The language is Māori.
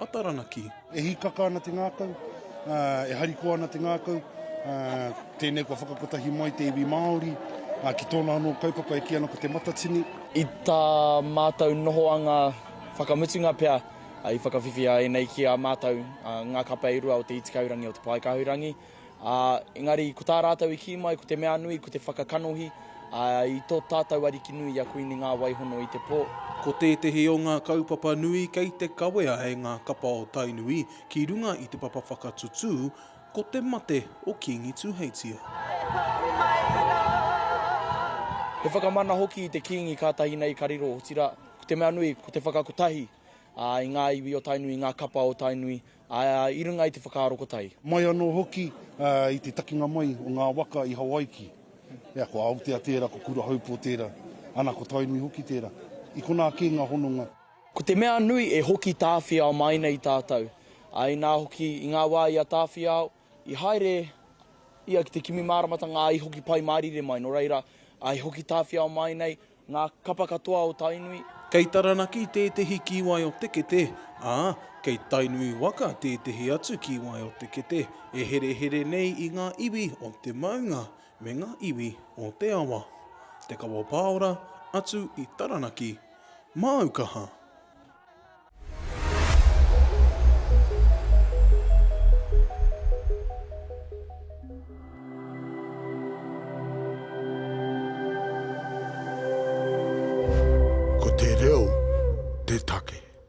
a Taranaki. E hīkaka ana te ngākau, e harikoa ana te ngākau, tēnei kua whakakotahi mai te iwi Māori ki tōna anō kaupapa e kī ana ko Te Matatini. I tā mātou nohoanga whakamutunga pea i whakawhiwhia e nei ki a mātou ngā kape i rua o Te Itikaurangi o Te Paekahurangi. Ā, engari, ko tā rātou i kī mai, ko te mea nui, ko te whakakanohi, ā, i tō tātou Ariki nui i a Kuini ngā Waihono i te pō. Ko tētehi o ngā kaupapa nui kei te kawea e ngā kapa o Tainui ki runga i te papa whakatutū, ko te mate o Kīngi Tuheitia. He whakamana hoki i te Kīngi kātahi nei ka riro, otirā, ko te mea nui, ko te whakakotahi, ā, i ngā iwi o Tainui, i ngā kapa o Tainui, Ā, i runga i te whakaaro ko tai. Mai anō hoki i te takinga mai o ngā waka i Hawaiki. Ea, ko Aotea tērā, ko Kurahaupō tērā, ana, ko Tainui hoki tērā. I konā kē ngā hononga. Ko te mea nui e hoki tāwhiao mai nei tātou, ā, inā hoki i ngā wā i a tāwhiao, I haere ia ki te kimi māramatanga ā, i hoki Pai Mārire mai, nō reira, ā, i hoki Tāwhiao mai nei ngā kapa katoa o Tainui. Kei Taranaki tētehi kīwai o te kete, ā, kei Tainui waka tētehi atu kīwai o te kete e herehere nei i ngā iwi o te maunga me ngā iwi o te awa. Te Kawa Pāora, atu i Taranaki. Māu kaha! Ko te reo te take.